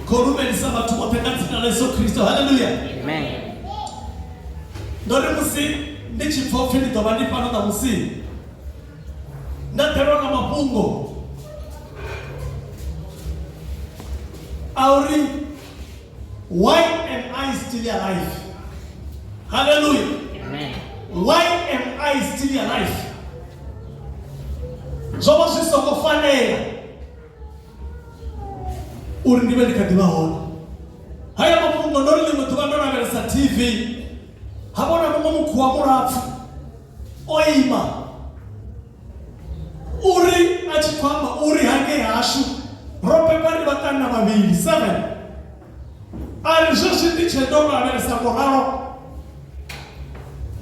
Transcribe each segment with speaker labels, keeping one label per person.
Speaker 1: khou lumelisa vhathu vhoṱhe nga dzina ḽa yesu khristo halleluya ndo ri musi ndi tshi pfa upfhi ndi ḓo vha ndi fano ṋamusi nda ḓelwa nga mafhungo a uri why am i still alive halleluya why am i still alive zwo vha zwi songo fanela uri ndi vhe ndi kha ḓi vha hone haya mafhungo ndo ri ḽiṅwe ḓuvha ndo lavhelesa tv ha vhona muṅwe mukhuwa mulapfu o ima uri a tshi khou amba uri hangei hashu ro bebwa ndi vhaṱanna vhavhili seven Ari zwezwi ndi tshe ndo lavhelesa ngo ralo,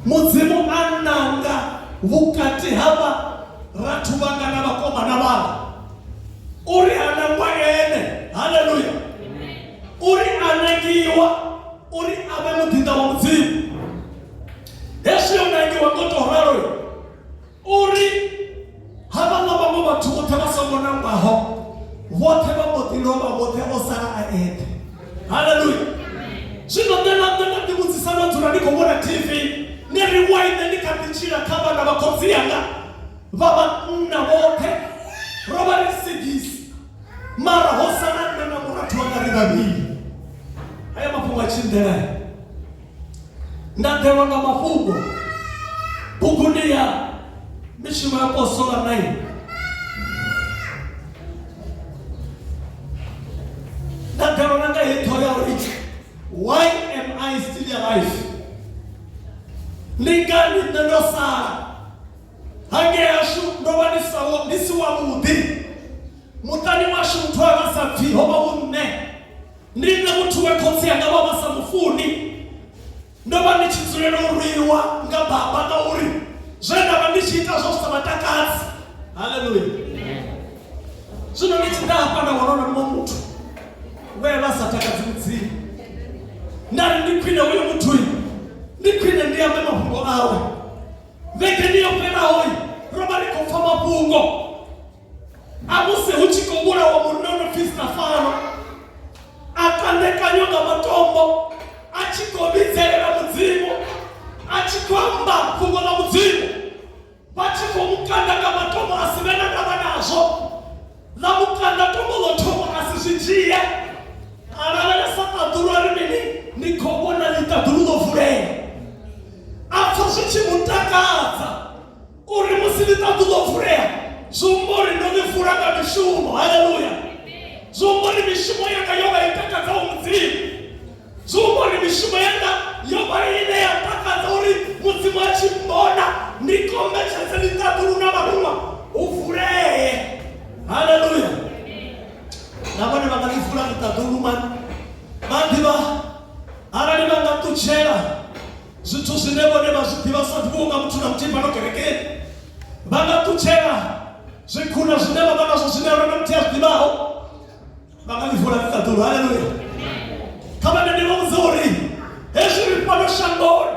Speaker 1: Mudzimu a nanga vhukati ha vharathu vhanga na vhakomana vhanga uri a nangwa ene haleluya uri a nangiwa uri a vhe muḓinḓa wa mudzimu hezwi yo nangiwa ngo to ralo uri havhaḽa vhaṅwe vhathu vhoṱhe vha songo nangwaho vhoṱhe vha mbo ḓi lovha vhoṱhe o sala a eṱhe haleluya zwino nṋe na nṋe nda ḓivhudzisa ndo dzula ndi khou vhona tv ni ri waine ndi kha ḓi tshila kha vhana vha khotsi yanga vha vhanna vhoṱhe ro vha ri sigisi mara ho sala nṋe na murathu wanga ri vhavhili haya mafhungo a tshindela nda ḓelwa nga mafhungo buguni ya mishumo ya posola 9 nda ḓelwa na nga heyi ṱhoho ya uri why am i still alive ndi ngani nṋe ndo sala hangei hashu ndo vha ndi sawo ndi si wavhuḓi muṱani washu muthu a nga sa pfhi ho vha hu nṋe ndi nṋe muthu we khotsi anga vha vha sa mufuni ndo vha ndi tshi dzulela u rwiwa nga baba ngauri zwe nda vha ndi tshi ita zwo sa vhatakadzi haleluya zwino ndi tshi ḓa hafha nda wana na muṅwe muthu we vha sa takadzi mudzimu nda ri ndi khwine uyo muthu ndi khwine ndi ambe mafhungo awe vhege ndi yo fhelaho ro vha ri khou pfa mafhungo a musi hu tshi khou vhulawa munonophista fano a kandekanywa nga matombo a tshi khou vhidzelela mudzimu a tshi khou amba fhungo ḽa mudzimu vha tshi khou mu kanda nga matombo a si vhe na ndavha nazwo ḽa mu kanda tombo ḽo thoma a si zwi dzhie a lavhelesa ṱaḓulu a ri mini ni khou vhona ḽiṱaḓulu ḽo vulea a pfa zwi tshi mu takadza uri musi ni ṱaḓu ḓo vulea zwi humba uri ndo ni vula nga mishumo haleluya zwi humba uri mishumo yanga yo vha i takadzaho mudzimu zwi humba uri mishumo yanga yo vha ine ya takadza uri mudzimu a tshi mbona ndi kombetshedze ni ṱaḓulu na vharuṅwa u vulee haleluya na vhone vha nga ni vula ni ṱaḓulu mani vha ḓivha arali vha nga ṱutshela zwithu zwine vhone vha zwi ḓivha sa ḓivhiwo nga muthu na muthihi fhano kerekeni vha nga ṱutshela zwikhuna zwine vha vha nazwo zwine rona muthihi a zwi ḓivhaho vha nga ḽivula ni ṱaḓulu haleluya kha vha nende vha vhudza uri hezwi ri fhano shangoni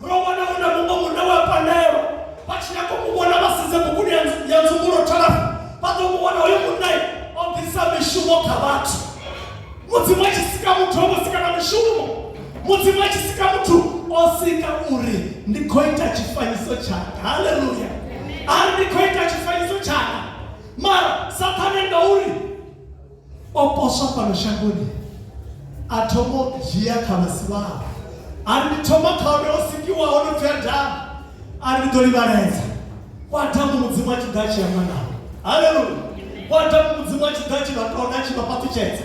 Speaker 1: ro wana hu na muṅwe munna wa pandelwa vha tshi nyako mu vhona vha sedze buguni ya nzungulo thala vha ḓo mu wana hoyo munna o ḓisa mishumo kha vhathu mudzimu a tshi sika muthu o mu sika na mishumo mudzimu a tshi sika muthu o sika uri ndi khou ita tshifanyiso tshanga haleluya ari ndi khou ita tshifanyiso tshanga mara sathane nga uri o poswa fhano shangoni a thomo dzhia kha masiwaho ari ndi thoma kha uri o sikiwa ho no pfi adamu ari ndi ḓo livhaledza kwa adamu mudzimu a tshi ḓa a tshi amba nao haleluya kwa adamu mudzimu a tshi ḓa a tshi vha tonda a tshi vha fhaṱutshedza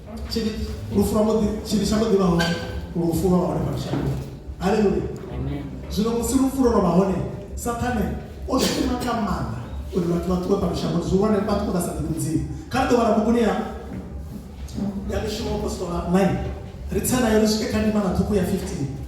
Speaker 1: tshiri lufu lwa muḓi tshiri tsha muḓi vha hone lufu lwa hone fha shango haleluya zwino musi lufu lwo vha hone sathane o shuma nga maanḓa uri vhathu vha ṱuwe fhano shango zwi vhone vha ṱuwe vha sa ḓivhi mudzimu kha ri ḓo vhala buguni ya ya mishumo apostola 9 ri tsa nayo ri swike kha ndimana ṱhukhu ya 15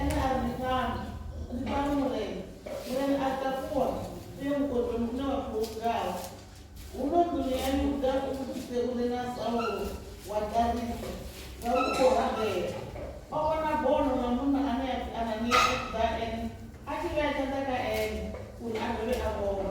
Speaker 1: Ene a ri, Ni fhano, ni fhano Murena. Murena a takuwa u ya mukodoni une wa pfi Hovugaho. Huno nḓuni ya Yuda u vhudzise uri naa Saulo wa Tarisa nga u khou rabela o vhona bono ḽa munna ane a pfi Anania a tshi ḓa ene a tshi vhea tshanḓa kha ene uri a dovhe a vhone.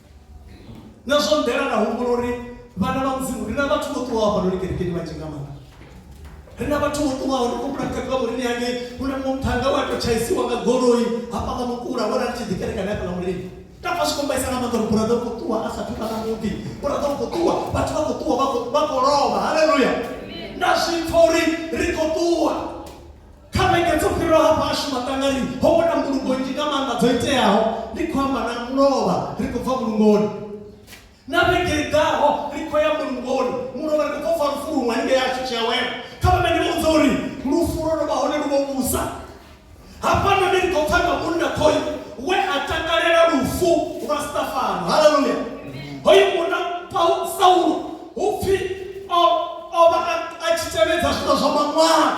Speaker 1: na zwo nḓela na humbula uri vhana vha mudzimu ri na vhathu vho ṱuwaho hafhanoni kerekeni vhanzhi nga maanḓa ri na vhathu vho ṱuwaho ri kumbula muṱhanga wa murini ane hu na muṱhanga wa to tshaisiwa nga goloi hafha nga mukula wo rali tshi ḓikerekana hafha nga murini tafha zwi kombaisa nga maanḓa uri buraḓa u khou ṱuwa a sa thuvha na muḓi buraḓa u khou ṱuwa vhathu vha khou ṱuwa vha khou lovha haleluya na zwipfa uri ri khou ṱuwa kha vhege dzo fhiraho hafha ashu maṱangani ho vhona mbulungo nnzhi nga maanḓa dzo iteaho ndi khou amba na mulovha ri khou bva mulungoni na vhege i ḓaho ri khou ya mulungoni mulovha ri khou bva lufu luṅwe haningei ashu tshi awela kha vhana ndi vhudza uri lufu lwo no vha hone lu vho vhusa hafha none ri khou pfa nga munna khoyu we a takalela lufu lwa stafano haleluya hoyu munna saulo upfi o vha a tshi tevhedza zwithu zwa maṅwalo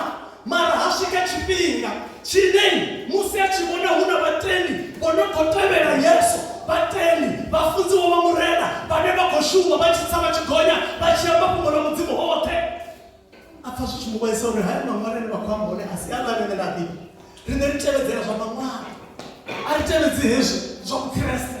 Speaker 1: mara ha swika tshifhinga tshine musi a tshi vhona hu na vhatendi vho no khou tevhela yesu vhatendi vhafunziwa vha murena vhane vha khou shuma vha tshi tsa vha tshi gonya vha tshi amba fhungo ḽa mudzimu hoṱhe a pfa zwi tshi mu vhaisa uri haya maṅwalo ane vha khou amba hone a si a ḽa rine na ḓivhi rine ri tevhedzela zwa maṅwalo a ri tevhedzi hezwi zwa vhukreste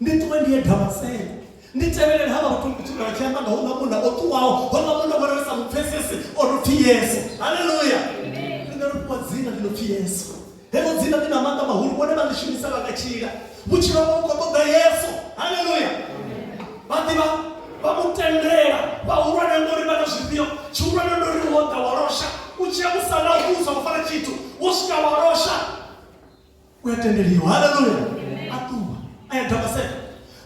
Speaker 1: ndi ṱuwe ndi ye damaseko ndi tevhelele havha vhathu ndi tshikhala tshi amba nga houḽa munna o ṱuwaho houḽa munna vhona ri sa mu pfesese o no pfi yesu halleluya ri nga ri fhiwa dzina ḽi no pfi yesu heḽo dzina ḽi na maanḓa mahulu vhone vha ḽi shumisa vha nga tshila vhutshilo havho vhu khou ṱoḓa yesu halleluya vha ḓivha vha mu tendela vhahulwane ngori vha na zwifhio tshihulwane ndo ri wo ḓa wa losha u tshia musala u sa u fara tshithu wo swika wa losha u ya tendeliwa haleluya a ṱuwa a ya damaseka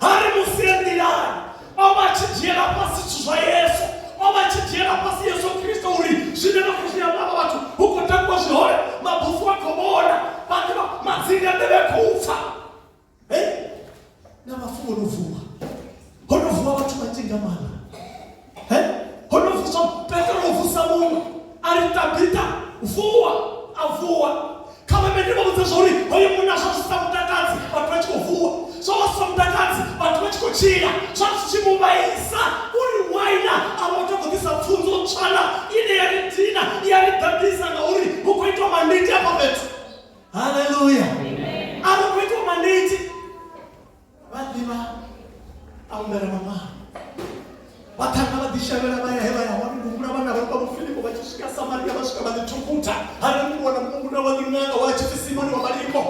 Speaker 1: hari musi e nḓilani o vha tshi dzhiela fhasi zwithu zwa yesu o vha tshi dzhiela fhasi yesu kristo uri zwine na khou zwi amba vha vhathu hu khou takuwa zwihole mabufu a khou vhona vhathu vha madzinga nḓevhe a khou pfa Eh? na vhafu vho no vuwa ho no vuwa vhathu vhanzhi nga maanḓa Eh? ho no vuswa petro o vusa muṅwe a ri tabita vuwa a vuwa kha vhavhende vha vhudza zwauri hoyo munna zwa zwi sa mutakadzi vhathu vha tshi khou vuwa zwa vha zwi sa mutakadzi vhathu vha tshi khou tshila zwa zwi tshi mu vhaisa uri waina a vha tou khou ḓisa pfunzo tswana ine ya ri dina ya ri ḓaḓisa ngauri hu khou itwa manditi afha fhethu haleluya a vha khou itiwa maniti vha ḓivha a humbela mamalo vha ṱhanga vha ḓishavhela vha ya he vha ya hone humbula vhana vha vha vhofilipo vha tshi swika samaria vha swika vha ḓi thukuta hare mungu wana mukunguna wa ḓiṅanga wa tshi simoni wa malimbo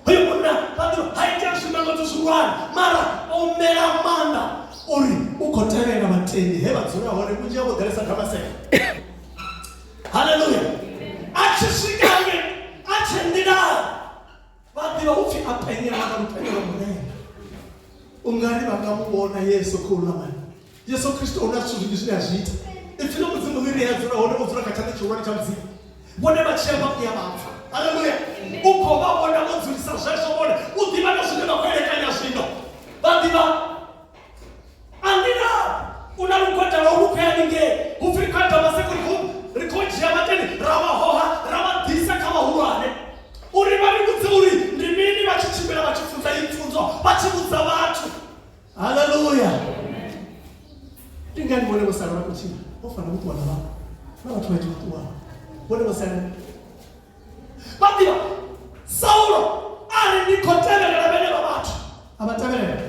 Speaker 1: hoyo munna vha ḓo ha itea zwimangotso zwihulwane mara o mela maanḓa uri u khou tevhela vhatendi he vha dzula hone vhunzhi ha vho ḓalesa damaseka haleluya a tshi swika nge a tshi nḓila vha ḓivha u pfhi a penye vha kana penye vha murena u nga ri vha nga mu vhona yesu khou ḽa mani yesu kristo hu na zwithu zwinzhi zwine a zwi ita ipfi ḽa mudzimu ḽi ri a dzula hone o dzula kha tshanḓa tshihulwane tsha mudzimu vhone vha tshia mafu ya vhathu haleluya u khou vha vhona vho dzulisa zwezwo vhone u ḓivha na zwine vha khou elekanya zwino vha ḓivha andina u na lugwada lwa lu khea ninge hupfi kha dovha sekuri hu ri khou dzhia vhateni ra vha hoha ra vha ḓisa kha vhahulwane uri vha ri vhudze uri ndi mini vha tshi tshimbila vha tshi funza iyi pfunzo vha tshi vhudza vhathu haleluya ndi ngani vhone vho sala vha khou tshila vho fana vho ṱuwa na vha na vhathu vhanzhi vho ṱuwaho vhone vho sala vhaḓivha saulo ari ndi khou tevhelela vhenevha vhathu a vha tevhelela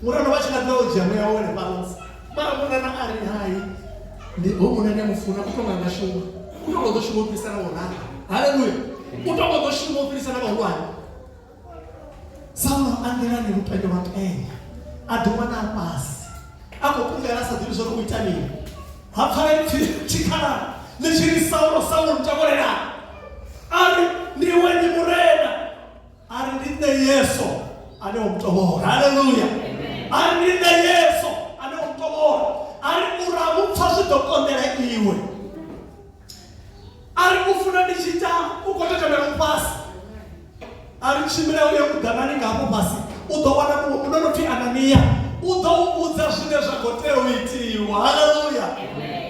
Speaker 1: murano vha tshi nga ḓa u dzhia muya wone fhano mara murana a ri hai ndi ho mune ndi mufuna u tonga nga shuma u tonga ḓo shuma u fhirisa na vhorana haleluya u tonga ḓo shuma u fhirisa na vhahulwane saulo a nḓilani lupendo lwa kenya a ḓi wana a fhasi a khou kungela a sa ḓivhi zwori u ita mini ha pfala ipfi tshikhala ḽi tshi ri saulo saulo ntavolela a ri ndi iwe ndi murena a ri ndi nṋe yeso ane o mutovhola haleluya a ri ndi nṋe yeso ane o mutovhola a ri murahu pfa zwi ḓo konḓela iwe a ri u funa ndi tshi ita u khou tetemela u fhasi a ri tshimbila u ye kuḓanani nga hafho fhasi u ḓo wana muṅwe muno no pfi ananiya u ḓo u vhudza zwine zwa khou tea u itiwa haleluya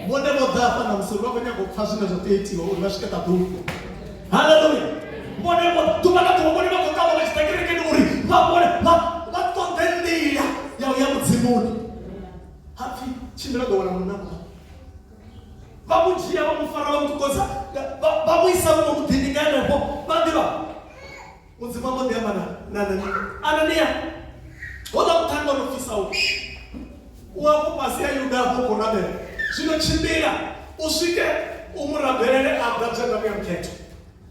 Speaker 1: vhone vho ḓa hafha na musori vha khou nyanga u pfha zwine zwa tea itiwa uri vha swike ṱaḓulu haleluya vhone vho ḓuvha na ḓuvha vhone vha khou ṱavha vha tshi ḓa kerekeni uri vha vhone vha vha ṱoḓe nḓila ya u ya mudzimuni hapfi tshimbila ḓo wana munna vha mu dzhia vha mu fara vha mu ṱukodza vha mu isa vho mu ḓini nga henefho vha ḓivha mudzimu ambo ḓi amba na anania anania hola muṱhanga ro fisa u u afho fhasi ya yuda afho khou rabela zwino tshimbila u swike u mu rabelele a ḓa dzhenda muya mukhetho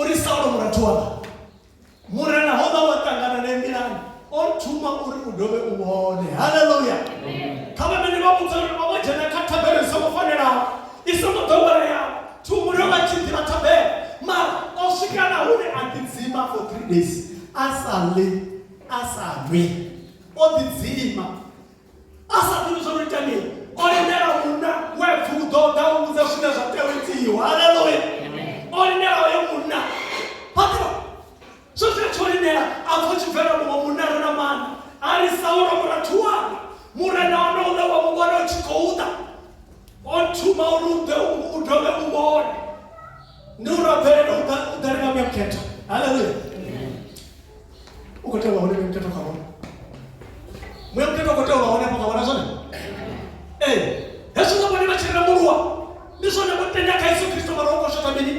Speaker 1: uri saulo murathu wanga murena ho vha wa ṱangana na embilani o thuma uri u dovhe u vhone haleluya kha vhamene vha vhudza uri vha vho dzhena kha thabelo i songo fanelaho i songo ḓoweleaho thumule vha tshi ḓivha thabelo mara o swika na hune a ḓidzima for three days a sa ḽi a sa nwi o ḓidzima a sa ḓivhi zwo no ita mini o lindela munna we vuḓo ḓa u vhudza zwine zwa tea u itiwa haleluya o lindela oyo munna patro zwo zwi tsho lindela a pfo tshi bvela muṅwe munna re na maanḓa a ri saulo murathu wanga murena ono uḽa wa muvhona u tshi khou ḓa o thuma uri u ḓe u dovhe u vhone ndi u rabvelela u ḓa ri nga muyamkhetha haleluya u khou tea u vha hone ndi mutetwa kha vhone muya mutetwa u khou tea u vha hone afho kha vhona zwone ee hezwo nga vhone vha tshi rembuluwa ndi zwone vho tenda kha yesu kristo mara u khou shotha mini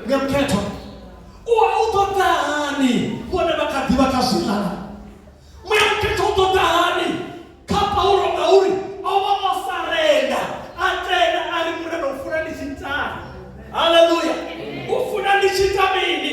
Speaker 1: muya mukhethwa u wa u ṱoḓa hani vhone vha kha ḓivha kha zwilala muya mukhethwa u ṱoḓa hani kha paulo ngauri o vha o sarenda a tenda a ri murena u funa ndi tshi tani haleluya u funa ndi tshi ita mini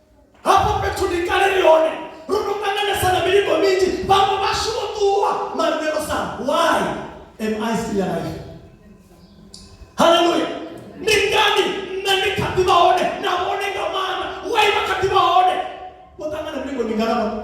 Speaker 1: hafho fhethu ndi kale ri hone ro no ṱanganesa na milingo minzhi vhaṅwe vhashu vho ṱuwa mara they were some why am i still alive haleluya ndi ngani nṋe ndi kha ḓi vha hone na vhone nga maana why vha kha ḓi vha hone vho ṱangana milingo mingana vhone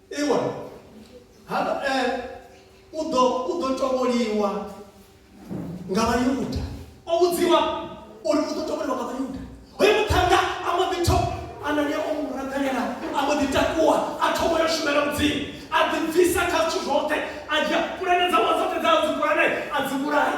Speaker 1: Iwa, hano e, u ḓo u ḓo tovholiwa nga Vhayuda. O vhudziwa uri u ḓo tovholiwa nga Vhayuda. Hoyo muṱhannga a mbo ḓi tho Anania o mu ragalela, a mbo ḓi takuwa, a thoma yo shumela Mudzimu, a ḓibvisa kha zwithu zwoṱhe, a dzhia pulane dzawe dzoṱhe dza dzi pulane, a dzi vhulaya.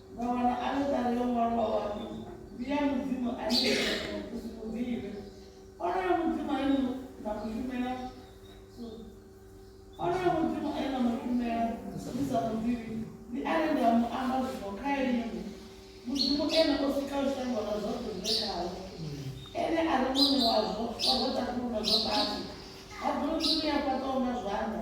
Speaker 1: vha wana aḽeṱare yo ṅwalwaho ha pfi ndi ya mudzimu ane iwe u si mu ḓivhe. Onoyo mudzimu ane na mu shumela onoyo mudzimu ane na mu shumela ni sa mu ḓivhi ndi ane nda mu amba zwino kha inwi mudzimu ene o sikaho shango na zwoṱhe zwi re khawo ene a ri muṋe wazwo wa zwa ṱakhulu na zwa fhasi ha ḓo ri ḓo ni ya fhaṱaho nga zwanḓa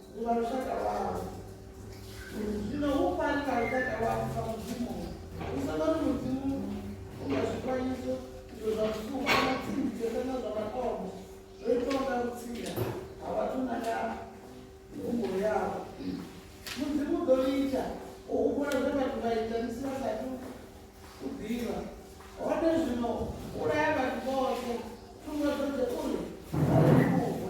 Speaker 1: Vhunga lushaka lwau. Zwino hu fani na lushaka lwau sa Mudzimu. Hu sa vha na Mudzimu u na zwifanyiso izwo zwa vhusuku kana tsimbidzo kana zwa matombo zwo itwaho nga vhutsila ha vhathu na nga mihumbulo yavho. Mudzimu u ḓo litsha u humbula zwe vhathu vha ita musi vha sathu u ḓivha. Hone zwino vhulaya vhathu vhoṱhe thungo dzoṱhe uri vha livhuwe.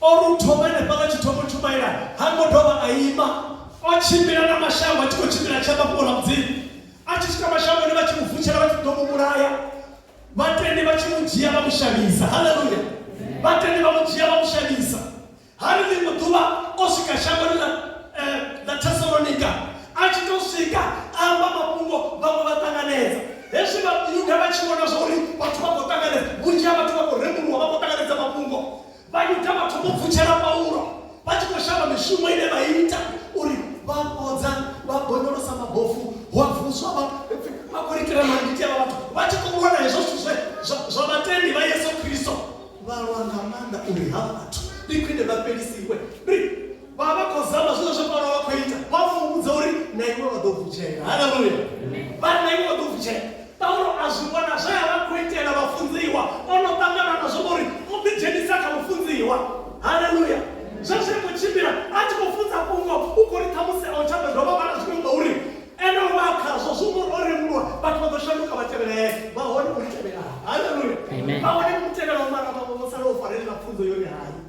Speaker 1: O ri u thoma henefhaḽa tshithomo tshumaela, ha ngo dovha a ima. O tshimbila na mashango a tshi khou tshimbila a tshi amba fhungo ḽa Mudzimu. A tshi swika mashangoni vha tshi mu vutshela vha tshi ḓo mu vhulaya. Vhatendi vha tshi mu dzhia vha mu shavhisa. Haleluya! Vhatendi vha mu dzhia vha mu shavhisa. Ha ri ḽiṅwe ḓuvha o swika shangoni ḽa eh, ḽa Thesalonika. A tshi tou swika a amba mafhungo vhaṅwe vha ṱanganedza. Hezwi vha Yuda vha tshi vhona zwa uri vhathu vha khou ṱanganedza, vhunzhi ha vhathu vha khou rembuluwa vha khou ṱanganedza mafhungo. Vhayuda vha thoma u pfutshela Paulo vha tshi khou shavha mishumo ine vha ita uri vha fhodza vha bonyolosa mabofu wa vuswa vha pfi vha khou likela manditi avha vhathu vha tshi khou vhona hezwo zwithu zwe zwa- zwa vhatendi vha yesu kristo vha lwa nga maanḓa uri ha vhathu ndi khwine vha fhelisiwe ri vha vha khou zama zwine zwe paulo vha khou ita vha mu vhudza uri na iwe vha ḓo vutshela haleluya vha na iwe vha ḓo vutshela paulo a zwi vhona zwe a vha khou itela vhafunziwa o no ṱangana na zwo ngori o ḓidzhenisa kha vhafunziwa haleluya zwe zwi khou tshimbila a tshi khou funza fhungo u khou ri ṱhamusi a u tsha ḓo dovha vhala zwiṅwe ngauri ene vha khazwo zwo ngori o rembulwa vhathu vha ḓo shanduka vha tevhela ene vha hone u tevhela haleluya vha hone u tevhela u mara vhaṅwe vho sala u farelela pfunzo yone hani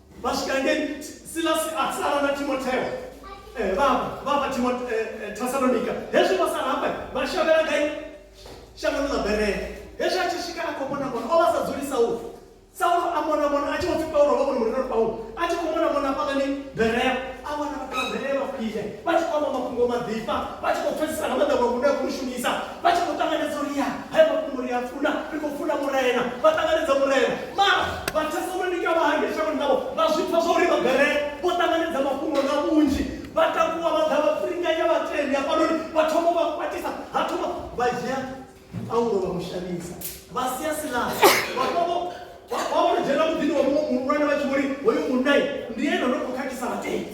Speaker 1: vha swika ngei silasi a sala na timotheo eh, vha eh, eh, thasalonika hezwi vho sala hafha vha shavhela gai shangoni ḽa berele hezwi a tshi swika a khou vhona vhona o vha sa dzulisa u saulo a mona mona a tshi vho pfi paulo vha vhona muliloni paulo a tshi khou mona mona hafhaḽani berea a vhona vhathu vha berele vha khwine vha tshi khou amba mafhungo maḓifha vha tshi khou pfesesa nga maḓa vha muṋe a khou shumisa vha tshi khou ṱanganedza uri ya haya mafhungo ri a funa ri khou funa murena vha ṱanganedza murena mara vhathesalonika vha hangei shangoni navho vha zwi pfa zwa uri vhabere vho ṱanganedza mafhungo nga vhunzhi vha takuwa vha ḓa vha pfiringanya vhatendi hafhanoni vha thoma vha kwatisa ha thoma vha dzhia paulo vha mushamisa vha sia silasi vhafhavo vha vho dzhena muḓini wa muṅwe muhulwane vha tshi vhori hoyo munnai ndi ene no khou khakhisa vhatendi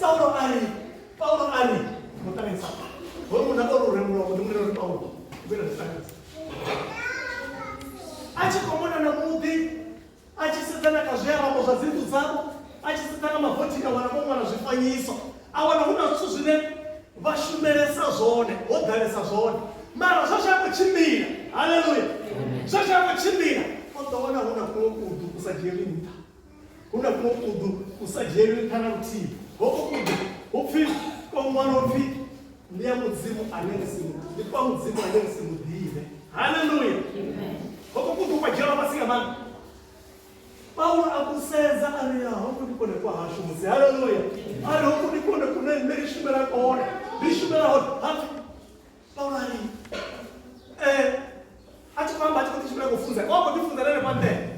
Speaker 1: saulo a ri paulo a ri muṱaneni sa hoyu munna o ri u rembulwa muḓi munene uri paulo ubela ndisanisa a tshi khou mona na muḓi a tshi sedzana kha zwiarabo zwa dzinḓu dzavho a tshi sedzana mavothini a wana vho ṅwala zwifanyiso a wana hu na zwithu zwine vha shumelesa zwone ho ḓalesa zwone mara zwo zwa khou tshimbila haleluya zwo zwa khou tshimbila o ḓo wana hu na kuṅwe kudu ku sa dzhieli nṱha huna kuno kudu ku sa dzhielwi nṱha na luthihi hoko kudu hu pfi ko ṅwalo pfi ndi ya mudzimu ane ri si ndi kwa mudzimu ane ri si mu ḓivhe haleluya hoko kudu kwa dzhielwa fhasi nga maanḓa paulo a ku sedza a ri hoko ndi kone kwa hashu musi haleluya a ri hoko ndi kone kune nṋe ri shumela kone ri shumela hone hapfi paulo a ri um a tshi khou amba a tshi khou ḓi shumela kho funza o khou ḓi funza na henefha nḓela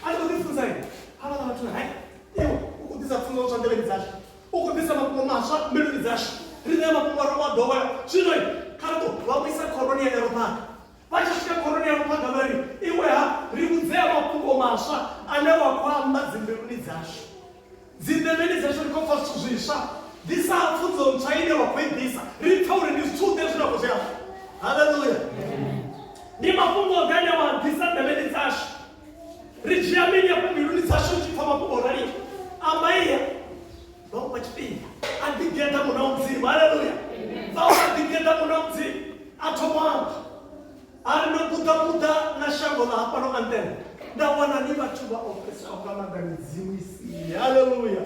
Speaker 1: a ndi khou ḓi funza ine havhala vhathu na hai iwe u khou ḓisa pfunzo tswa nḓevheni dzashu u khou ḓisa mafhungo maswa mbiluni dzashu ri ṋea mafhungo a rowa ḓowela zwino kha ri ḓo vha vhuisa khoroni ya yarophaga vha tshi swika khoroni ya yarophaga vha ri iwe ha ri vhudzea mafhungo maswa ane wa khou amba dzimbiluni dzashu Dzinḓevheni dzashu ri khou pfa zwithu zwiswa, ḓi sa pfunzo ntswa ine wa khou i ḓisa. Ri pfa uri ndi zwithu ḓe zwine wa khou zwi amba. Haleluya! Ndi mafhungo ḓe ane wa ḓisa nḓevheni dzashu. Ri dzhia mini afho mbiluni dzashu tshi pfa mafhungo o raliho? Amba iya. Vha u fha tshifhinga. A ḓigeḓa muṋe wa mudzimu. Haleluya! Vha u fha ḓigeḓa muṋe wa mudzimu. A thoma u amba. A ri, Ndo puṱapuṱa na shango ḽa hafhano Anthem, nda wana ni vhathu vha ofhesaho nga maanḓa midzimu i si ye. Haleluya!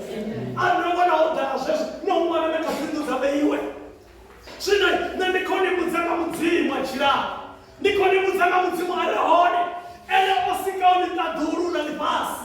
Speaker 1: A ri, Ndo vhona ho ḓala zwezwo, na u wana na kha dzi nnḓu dza vheiwe. Zwino nṋe ndi khou ni vhudza nga Mudzimu a tshilaho, ndi khou ni vhudza nga Mudzimu a re hone, ene o sikaho ḽiṱaḓulu na ḽifhasi,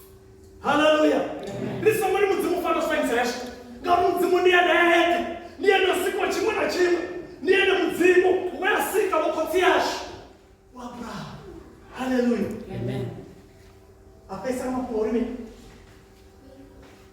Speaker 1: haleluya ri songo ri mudzimu u fanela sifanyisa yashu ngauri mudzimu ndi ene eṱhe ndi ene o sikwa tshiṅwe na tshiṅwe ndi ene mudzimu we a sika vhokhotsi yashu wa abrahamu haleluya a fhesa mafhungo uri mini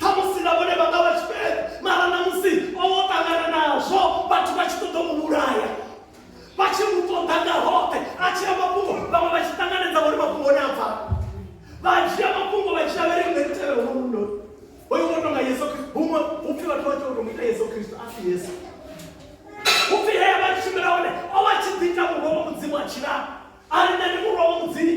Speaker 1: Ṱhamusi na vhone vha nga vha tshifheṱe, mara ṋamusi o vha o ṱangana nazwo vhathu vha tshi ṱoḓa u mu vhulaya, vha tshi mu ṱoḓa nga hoṱhe. A tshia mafhungo, vhaṅwe vha tshi ṱanganedza uri mafhungo one a bva, vha dzhia mafhungo vha dzhia vha ri riṋe ri tevhela hono muno hoyo wo tonga Yesu Kristo. Huṅwe hu pfi vhathu vha tea u tou mu ita Yesu Kristo, a si Yesu. Hu pfi he a vha a tshi tshimbila hone o vha a tshi ḓi ita murwa wa Mudzimu a tshila, a ri nṋe ndi murwa wa Mudzimu.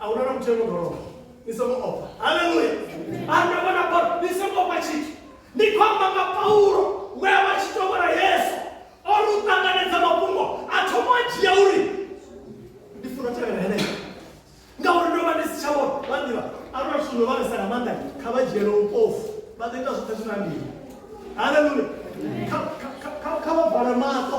Speaker 1: a hu na na muthu eno doloba ni songo ofha haleluya anda vhona paulo ni songo ofha tshithu ni khou amba nga paulo we a vha tshi tou vhona yesu o ri u ṱanganedza mafhungo a thoma a dzhia uri ndi funa tevhela henea ngauri ndo vha ndi si tsha vhona vha ḓivha arona zwithu ndo vhalesa nga maanḓa kha vha dzhiele upofu vha ḓo ita zwoṱhe zwi na ndini haleluya Kha- kha- kha- kha- kha vha vale maṱo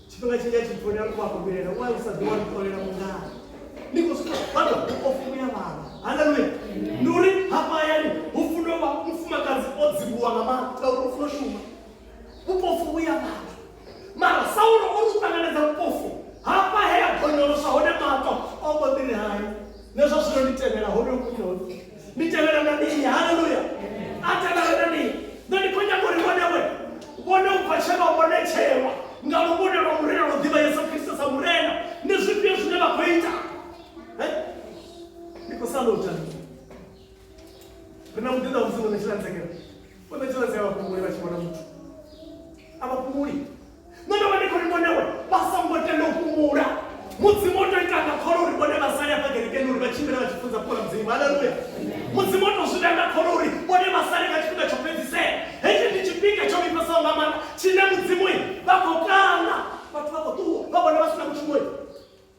Speaker 1: tshifhinga tshinzhi a tshi folela u vhakomelela u u sa ḓi wa ntholela mungana ni khou swika vhana o fumula vhana haleluya ndi uri hafha hayani hu funa vha mufumakadzi o dzivhuwa nga maanḓa ngauri u funa shuma vhupofu vhu ya vhathu mara saulo o ri u ṱanganedza vhupofu hafha he a gonyolosa hone maṱo o mbo ḓi ri hani Na zwa zwino ndi tevhela honoyo munyoli. Ndi tevhela na nini? Haleluya! A tevhela na nini? Nṋe ndi khou nyaga uri vhone we vhone ubva tshe vha vhonetshelwa nga luvhone lwa Murena lwo ḓivha Yesu Kristo sa Murena, ndi zwifhio zwine vha khou ita? Eh? Ndi khou sala u ita mini? Ri na muḓinḓa wa Mudzimu ṋetshela ntsengelo. Vho ṋetshela ntsengelo vha fhunguli vha tshi vhona muthu. A vha fhunguli. Nṋe ndo vha ndi khou ri vhone uri vha songo tenda u fhumula. Mudzimu o tou ita nga kholo uri vhone vha sale hafha kerekeni uri vha tshimbile vha tshi funza fhula Mudzimu. Haleluya! Mudzimu o tou zwi ita nga kholo uri vhone vha sale nga tshifhinga tsho fhedzisela. Hetshi ndi tshifhinga tsho vhifhesaho nga maanḓa tshine Mudzimu vha khou kala vhathu vha khou ṱuwa vha vhone vha si na mushumo.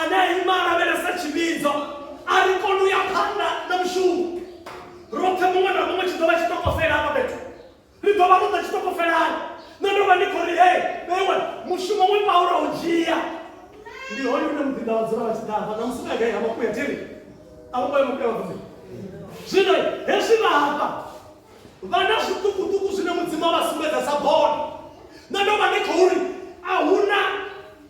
Speaker 1: ane a ima lavhelesa tshivhidzo a ri koni u ya phanḓa na mushumo roṱhe muṅwe na muṅwe tshi ḓo vha tshitokofela hafha fhethu ri ḓo vha ro ḓa tshitokofelani nṋe ndo vha ndi khou ri hei vheiwe mushumo we paulo u dzhia ndi hone une muḓinda wa dzula vha tshi ḓafa na musi nagai ha makuya tiri a vho ngoya makuya vhakuya zwino hezwi vha hafha vha na zwiṱukuṱuku zwine mudzimu a vha sumbedza sa bono nṋe ndo vha ndi khou ri a huna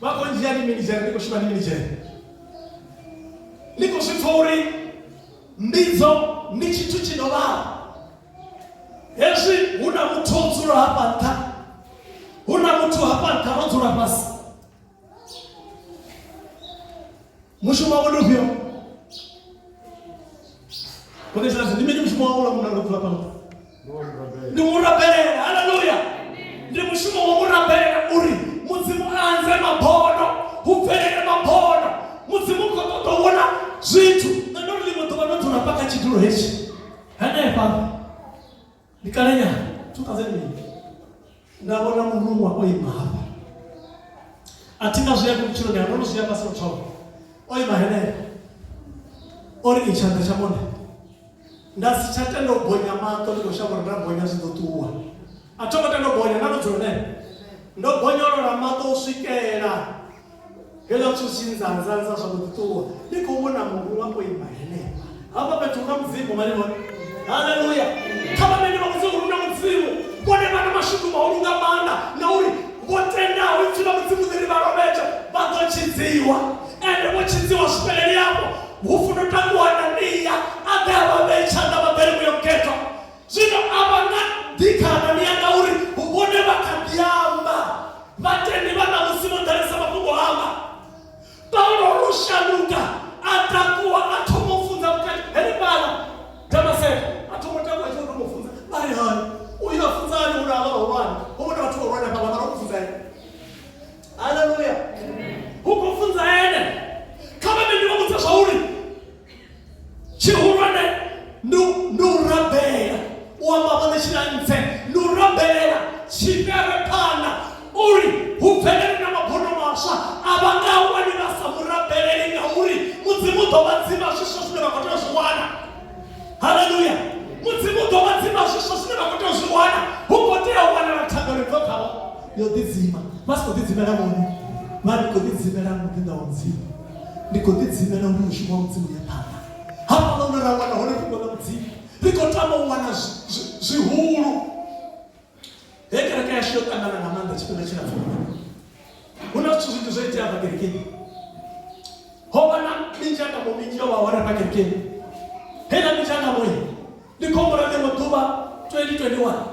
Speaker 1: vhakho ndzhia ndi minidzhere ndi khou shuma ndi minidzhere ndi khou zwi pfa uri mbidzo ndi tshithu tshi no vhala hezwi hu na muthu o dzula hafha nṱha hu na muthu hafha nṱha ro dzula fhasi mushumo wavho ndi ufhio kone zviranzi ndi mini mushumo wavho lamuna ndobvula pano ndi murabelela haleluya ndi mushumo wa murabelela uri mudzimu anze mabodo hu bvelele mabodo mudzimu kho ṱoḓa vhona zwithu nṋe ndo ri ḽiṅwe ḓuvha ndo dzula pa kha tshidulo hetshi hanefha ndi kalenyana 2008 nda vhona muruṅwa o ima hafha a thi nga zwi ya vhutshilo ndi ndo no zwi amba sa mutsholo o ima henefha o ri i tshanḓa tsha vhone nda si tsha tenda u bonya maṱo ndi khou shavha uri nda bonya zwi ḓo ṱuwa a thongo tenda u bonya nda no dzula nene ndo bonyolola maṱo u swikela Hela tswusinza nzanza zwa mbo ḓi ṱuwa, ni khou vhona muruṅwa o ima henefha. Hafha fhethu hu na Mudzimu, vha ni vhona? Haleluya! Kha vhaṋendi vha Mudzimu hu na Mudzimu. Vhone vha na mashudu mahulu nga maanḓa, ngauri vho tendaho Ipfi ḽa Mudzimu ḽi ri vha lovhedzwe, vha ḓo tshidziwa. Ende vho tshidziwa zwi fheleli afho. Hu funo takuwa Anania a ḓe a vha vhee tshanḓa vhaḓa ri vhuye u gethwa. zwino a vha nga ḓi kha Anania ngauri hu vhone vha kha ḓi amba vhatendi vha ṋamusi vho ḓalesa mafhungo anga paulo o no shanduka a takuwa a thoma u funza vhukati henefhala damaseko a thoma u takuwa a tshi thoma u funza vha ri hani uyo a funza hani uri avha vhahulwane ho vhona vhathu vhahulwane fhala mara u funza ene haleluya hu khou funza ene kha vha vhe ndi vha vhudza zwauri tshihulwane ndi u rabela u amba vhone tshilantse ndi u rabelela tshifhere phana uri hu bvelele na mabvuno maswa a vha nga wani vha sa mu rabeleli ngauri mudzimu u ḓo vha dzima zwiswa zwine vha khou tea u zwi wana haleluya mudzimu u ḓo vha dzima zwiswa zwine vha khou tea u zwi wana hu khou tea u wanala thabelo idzo khavho yo ḓidzima vha si khou ḓidzimela muno vha ri khou ḓidzimela muḓinḓa wa mudzimu ndi khou ḓidzimela uri mushumo wa mudzimu ya phanḓa hafhaḽa hune ra wana hone fhungo ḽa mudzimu ri khou tama u wana zwihulu he kereke yashu yo ṱangana nga maanḓa tshifhinga tshilapfu hu na zwithu zwinzhi zwo itea afha kerekeni ho vha na minzhangamo minzhi yo vha hone afha kerekeni heiḽa minzhangamo ndi khombo ra ḽiṅwe ḓuvha 2021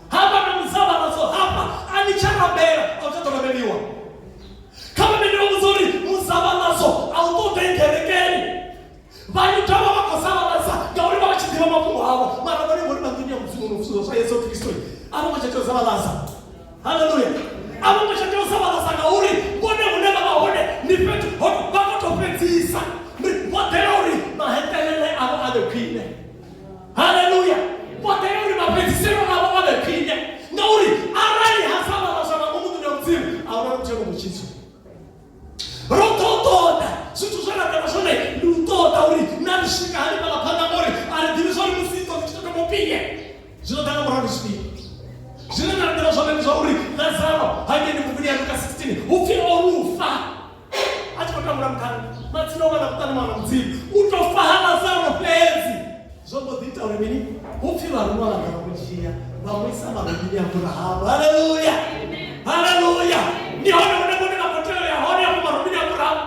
Speaker 1: hafha na muzavharadzo hafha a ni tsha rabela a u tsha ḓo rabeliwa kha vha mene vha vhudza uri muzavharadzo a u ṱoḓe ngerekeni vhayuda vha vha khou zavharadza ngauri vha vha tshi ḓivha mafhungo avho mara vhone vhori vha nḓuni ya mudzimu no vhusulo zwa yesu kristo a vho ngo tsha tea u zavharadza haleluya a vho ngo tsha tea u zavharadza ngauri vhone hune vha vha hone ni fhethu hone vha khou tou fhedzisa vho ḓela uri mahetelele avho a vhe khwine haleluya vhoḓea uri mafhedziselo avho a vhe khwine ngauri arali ha sa vha vhaswa vha ngomu ḓuni ya mudzimu a hu na mutshelo mutshitsu ro ḓo ṱoḓa zwithu zwe ra ḓela zwone ndi u ṱoḓa uri na ri swika hani fhaḽa phanḓa ngori a ri ḓivhi zwa uri musi idzo dzi tshi tou thoma u pine zwino ḓa nga murahu ndi zwifhio zwine na ḓela zwone ndi zwa uri lazaro hangei ndi buguni ya luka 16 upfi o lufa a tshi khou tambula mukhala matsina wana kuṱani wana mudzimu u to faha lazaro fhedzi zwo mbo ḓi ita uri mini hu pfhi vharuwa vha ḓa kudzhia vha mu isa malomini a burahamu haleluya haleluya ndi hone hune vhone vha khou tea u ya hone afho malomini a burahamu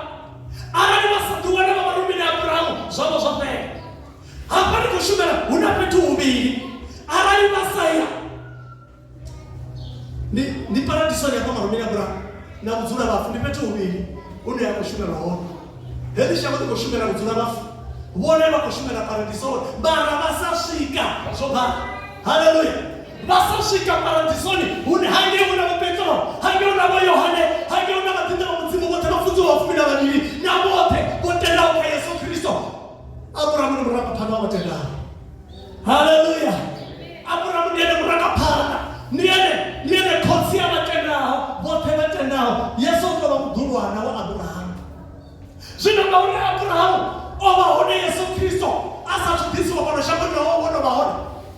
Speaker 1: arali vha sa ḓi wana vha malomini a burahamu zwavho zwo fhela hafha ndi khou shumela hu na fhethu huvhili arali vha sa ya ndi ndi paradisoni hafha malomini a bulaho na vhudzula vhafu ndi fhethu huvhili hune ya khou shumelwa hone heḽi shango ḽi khou shumela vhudzula vhafu vhone vha khou shumela paradisoni mara vha sa swika zwo bala haleluya vha sa swika paradisoni hune hangei huna vho petro hangei huna vho yohane hangei huna vhaḓinḓa vha mudzimu vhoṱhe vha funziwa vhafumi na vhavhili na vhoṱhe vho tendaho kha yesu kristo Abrahamu ndi murangaphanḓa wa vhatendani. Haleluya! Abrahamu ndi ene murangaphanḓa, ndi ene ndi ene khotsi ya vhatendaho vhoṱhe vhatendaho. Yesu o tou vha muḓulwana wa Abrahamu. Zwino ngauri Abrahamu o vha hone Yesu Kristo a sa thu ḓisiwa fhano shangoni, naho o no vha hone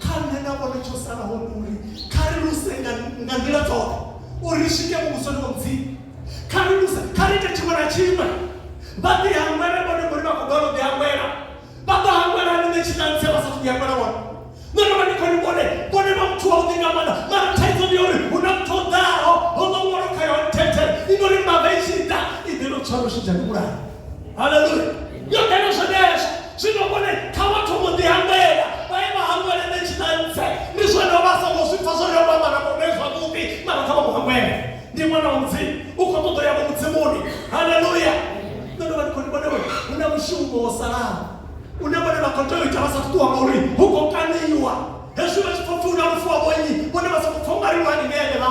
Speaker 1: kha nṋe na vhone tsho salaho ndi uri kha ri luse nga nga nḓila dzoṱhe uri ri swike muvhusoni wa mudzimu kha ri luse kha ri ite tshiṅwe na tshiṅwe vha ḓi hangwele vhone ngori vha khou balelwa u ḓi hangwela vha ḓo hangwela hani nṋe tshitanse vha sa thu ḓi hangwela vhone nṋe ndo vha ndi khou ni vhone vhone vha muthu wa vhuḓi nga maanḓa mara thaidzo ndi ya uri hu na muthu o ḓaho ho ḓo ṅwalo kha yone thethele i no ri mbava i tshi ḓa i ḓe no tshwara u shidza ni vhulaha haleluya yo kena zwenezwo zwino kone kha vhathu vho ḓi hangwela vha ye vha hangwele nṋe tshiṱantse ndi zwone vha songo zwi pfa zwone vha mara vhone zwavhuḓi mara kha vha mu hangwele ndi ṅwana wa mudzimu u khou ṱoḓo ya vho mudzimuni haleluya nṋe ndo vha ndi khou ndi vhone hu na mushumo wo salaho une vhone vha khou tea u ita vha sa ṱuwa ngauri hu khou kaniwa hezwi vha tshi khou pfi hu na lufu wa vhonyi vhone vha sa khou pfa u nga ri lwani neene vha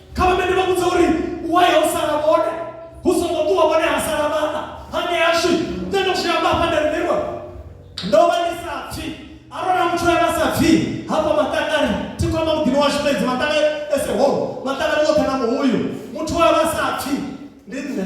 Speaker 1: kha vha mene vha vhudza uri waye ho sala vhone hu songo ṱuwa vhone ha sala vhana hane ashu nṋe ndo zwi amba hafha nda rimelwa ndo vha ndi sa pfi arona muthu ane a sa pfi hafha maṱangani thi kwamba muḓini washu fhedzi maṱanga ese holo maṱangani woṱhe na muhuyu muthu waye vha sa pfi ndi nṋe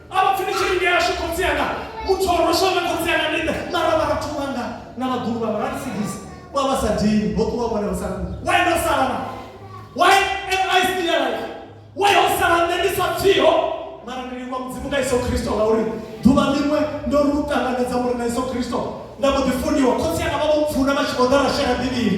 Speaker 1: a vha pfi ni tshi lingea ashu khotsi anga muthu o roshaho na khotsi anga ndi nṋe mara vha vhathu vhanga na vhaḓulu vhanga vha nsigisi vha vha sa dini ho ṱuwa vhone vha sa kuli why ndo sala na why am i still alive why ho sala nṋe ndi sa pfiho mara ndi livhuwa mudzimu nga iso khristo ngauri ḓuvha ḽiṅwe ndo lu ṱanganedza muri na iso khristo nda mbo ḓi funiwa khotsi anga vha vho mpfuna vha tshi vho ḓa ra shela bivhili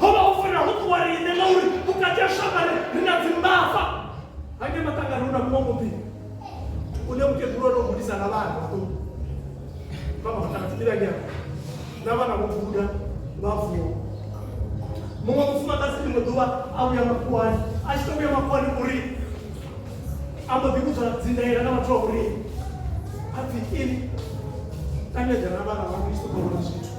Speaker 1: ho vha ho fanela ho ṱuwa riṋe ngauri vhukati ha shambare ri na dzimbava hange maṱangani hu na muṅwe muḓi une mukegulu o no gudisa na vhana vhaṱuku vha maṱanga dzimbilanyana na vhana vho guda vha vuwa muṅwe mufumakadzi ḽiṅwe ḓuvha a vhuya makhuwani a tshi to vhuya makhuwani uri a mbo ḓi vhudzwa dzindaela na vhathu vha uri a pfi ini tangeḓa na vhana vha kristo kha vhona zwithu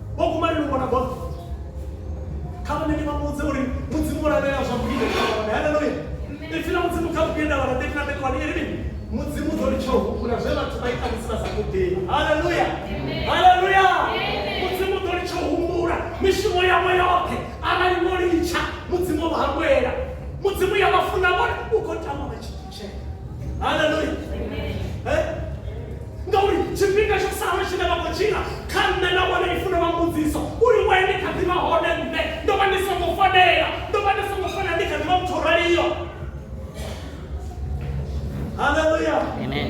Speaker 1: vho kumani lu vhona bola kha vhone ndi vha muvhudze uri mudzimu lavhelela zwa vhuinde khaone haleluya ipfi la mudzimu kha vhuende vhala thirty na thirty one iri mini mudzimu ḓo litsha u humbula zwe vhathu vha ita musi vha sa ṱoḓei haleluya haleluya mudzimu ḓo litsha u humbula mishumo yavho yoṱhe arali wo litsha mudzimu vha hangwela mudzimu ya vha funa vhone u khou tama vha tshi haleluya Eh? ngauri tshifhinga tsho sala tshine vha khou tshila kha nṋe na vhone i funa vha mbudziso uri we ndi kha ḓivha hone nṋe ndo vha ndi songo fanela ndo vha ndi songo fanela ndi kha ḓivha muthu o raliyo haleluya Amen.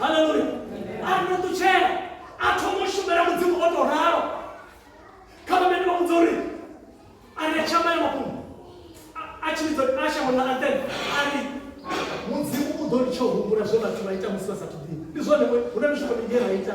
Speaker 1: haleluya a ri no ṱutshela a thoma u shumela mudzimu o tou ralo kha vha mene vha vhudza uri a ri a tshamba ya mafhungo a tshi vhidza a shango ḽa antene a ri mudzimu u ḓo litsha u humbula zwe vhathu vha ita musi vha sa thuḓini ndi zwone hu na mishumo minzhi ra ita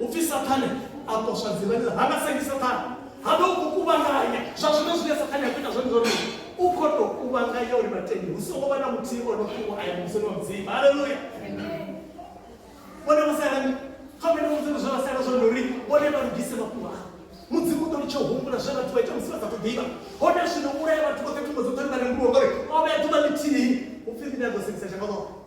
Speaker 1: upfi sathane a poswa dzivhani ha nga sengi sathane ha vha u khou kuvhanganya zwa zwino zwine sathane a khou ita zwone zwone u khou tou kuvhanganya uri vhatendi hu songo vha na muthihi o no fhiwa aya musoni wa mudzimu haleluya vhone vha salani kha mene mudzimu zwe vha sala zwone uri vhone vha lugise mafhungo a mudzimu u ḓo litsha u humbula zwe vhathu vha ita musi vha sa tou ḓivha hone zwino vhulaya vhathu vhoṱhe thumbo dzoṱhe ri vha rengiwa ngori o vhea ḓuvha ḽithihi upfi ḽine a ḓo sengisa dzhango ḽoṱhe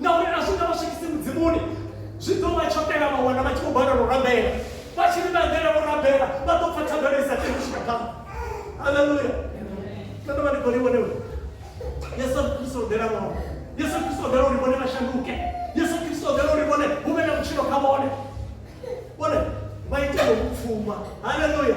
Speaker 1: Ngauri a zwi nga vha swikisi Mudzimuni, zwi ḓo vha tsho tea vha wana vha tshi khou balelwa u rabela. Vha tshi ri vha eḓela u rabela, vha ḓo pfa thangana i sa tei u swika phanḓa. Haleluya! Nṋe ndo vha ndi khou ri vhone uri Yesu a ri thusa u ḓela vhone. Yesu a ri thusa u ḓela uri vhone vha shanduke. Yesu a ri thusa u ḓela uri vhone hu vhe na vhutshilo kha vhone. Vhone vha ite ngo vhupfuma. Haleluya!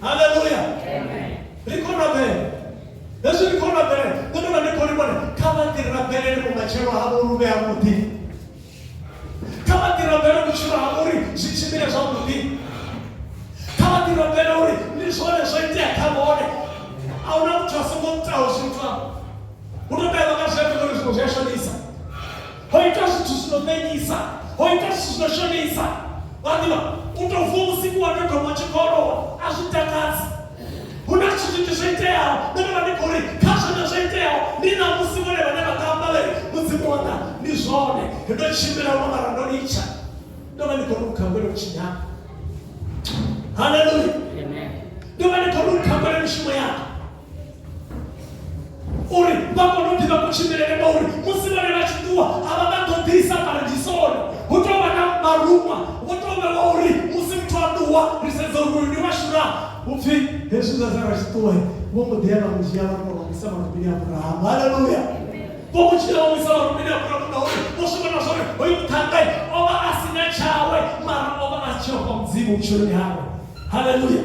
Speaker 1: haleluya ri khou rabela hezwi ri khou rabela ndo tovha ndi khou livhona kha vha ḓi rabelele vhumatshelo havho lu vhe havhuḓi kha vha ḓi rabele vhutshilo ha uri zwi tshimbile zwavhuḓi kha vha ḓi rabele uri ndi zwone zwo itea kha vhone a hu na muthu a songo itaho zwithu hu to tea vha ka zwi ambe uri zwithu zwi a shonisa ho ita zwithu zwi no fhenyisa ho ita zwithu zwi no shonisa wa ḓivha u tou vuwa vhusiku wa tou thoma tshi kolowa a zwi takadzi hu na zwithu zwinzhi zwo iteaho nṋe ndo vha ndi khou ri kha zwone zwo iteaho ndi na musi vhone vhane vha nga amba vhari mudzimu wanga ndi zwone ndo tshimbila huno mara ndo litsha ndo vha ndi khou lukha ngwele vhutshinyanga haleluya ndo vha ndi khou lukha ngwele mishumo yanga uri vha kone u ḓivha kutshimbilele ngauri musi vhone vha tshi ṱuwa a vha nga ṱoḓisa paradisoni hu tou vha na maruṅwa vho tou vhewa uri musi muthu a ṱuwa ri sedza uri uyu ndi washura upfi hezwi zwa zara tshi ṱuwe vho mbo ḓi ya vha mu dzhia vha kona vhisa marumini a burahamu haleluya vho mu dzhia vha vhisa marumini a burahamu ngauri vho swi vhona zwori hoyu muṱhangai o vha a si na tshawe mara o vha a si tsheho kwa mudzimu vhutshiloni hawe haleluya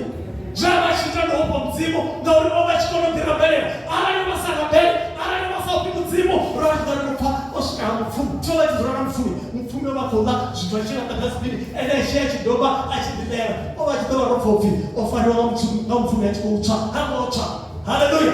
Speaker 1: zwa vha tshi ita ndihofho mudzimu ngauri o vha tshi kona u ḓi rabelela arali vha sa rabele arali vha sa ofhi mudzimu ra zwi ḓari kupfa o swika ha mupfumi tsho vha tshi dzula na mupfumi mupfumi o vha khou ḽa zwithu a tshi laṱa kha sipini ene a tshi a tshi doba a tshi ḓilela o vha tshi ḓo vha ro pfa upfi o fariwa nga mupfumi a tshi khou tswa ha ngo tswa haleluya